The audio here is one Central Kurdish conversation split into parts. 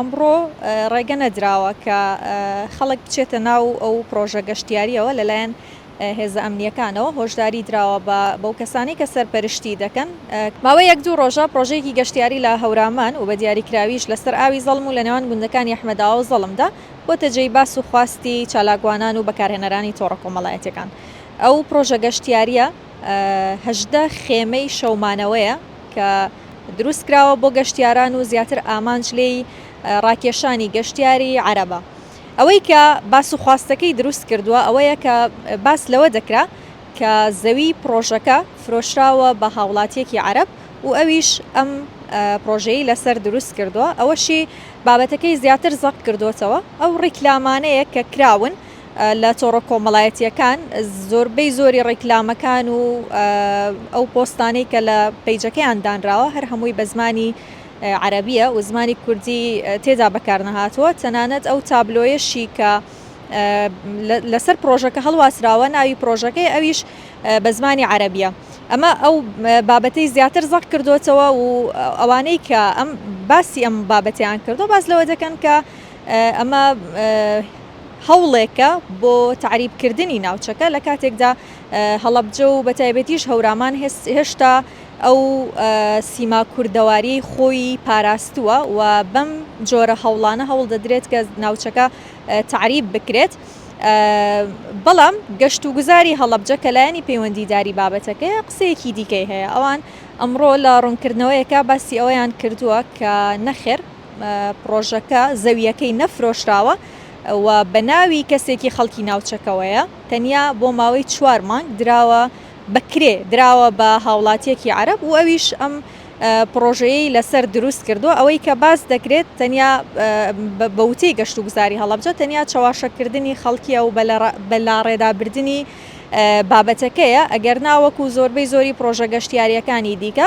ئەمڕۆ ڕێگە نەدراوە کە خەڵک بچێتە ناو ئەو پڕۆژە گەشتیارییەوە لەلایەن هێزە ئەمنییەکانەوە هۆشداری دراوە بەو کەسانەی کە سەرپەرشتی دەکەن. ماوەی یەک دوو ڕۆژە پڕۆژەیەکی گەشتیاری لە هەورامان و بە دیاریکراویش لەسەر ئاوی زەڵم و لە نێوان گوندەکانی ئەحمەداوا و زەڵمدا بۆتە جێی باس و خواستی چالاکوانان و بەکارهێنەرانی تۆڕە کۆمەڵایەتییەکان ئەو پڕۆژە گەشتیارییە هەژدە خێمەی شەومانەوەیە کە دروستکراوە بۆ گەشتیاران و زیاتر ئامانج لێی ڕاکێشانی گەشتیاری عەرەبە ئەوەی کە باس و خواستەکەی دروست کردووە ئەوەیە کە باس لەوە دەکرا کە زەوی پڕۆژەکە فرۆشراوە بە هاوڵاتیەکی عەرەب و ئەویش ئەم پڕۆژەی لەسەر دروست کردووە ئەوەشی بابەتەکەی زیاتر زەق کردوەتەوە ئەو ڕیکلامانەیە کە کراون لە تۆڕە کۆمەڵایەتییەکان زۆربەی زۆری ڕیکلامەکان و ئەو پۆستانەی کە لە پەیجەکەیان دانراوە هەر هەمووی بە زمانی عەرەبیە و زمانی کوردی تێدا بەکارنەهاتووە تەنانەت ئەو تابلۆیەشی کە لەسەر پرۆژەکە هەڵواسراوە ناوی پرۆژەکەی ئەویش بە زمانی عەرەبیە ئەمە ئەو بابەتی زیاتر زەق کردوێتەوە و ئەوانەی کە ئەم باسی ئەم بابەتیان کردو باس لەوە دەکەن کە ئەمە هەوڵێکە بۆ تەعریبکردنی ناوچەکە لە کاتێکدا هەڵەبجە و بەتایبەتیش هەورامان هێشتا ئەو سیما کوردەواری خۆی پاراستووە و بەم جۆرە هەوڵانە هەوڵ دەدرێت کە ناوچەکە تعریب بکرێت. بەڵام گەشت و گوزاری هەڵەبجە کە لایەنی پەیوەندیداری بابەتەکەی قسەیەکی دیکەی هەیە ئەوان ئەمڕۆ لە ڕوونکردنەوەیەکە باسی ئەوەیان کردووە کە نەخێر پڕۆژەکە زەوییەکەی نەفرۆشراوە و بە ناوی کەسێکی خەڵکی ناوچەکەوەیە، تەنیا بۆ ماوەی چوار مانگ دراوە بە کرێ، دراوە بە هاوڵاتییەکی عەرەب و ئەویش ئەم پڕۆژەیەی لەسەر دروست کردووە، ئەوەی کە باس دەکرێت تەنیا بە وتەی گەشتوگوزاری هەڵەبجە تەنیا چەواشەکردنی خەڵکییە و بە لاڕێدابردنی بابەتەکەیە، ئەگەرنا وەکو زۆربەی زۆری پڕۆژە گەشتیارییەکانی دیکە.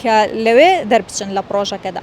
کە لەوێ دەربچن لە پڕۆژەکەدا.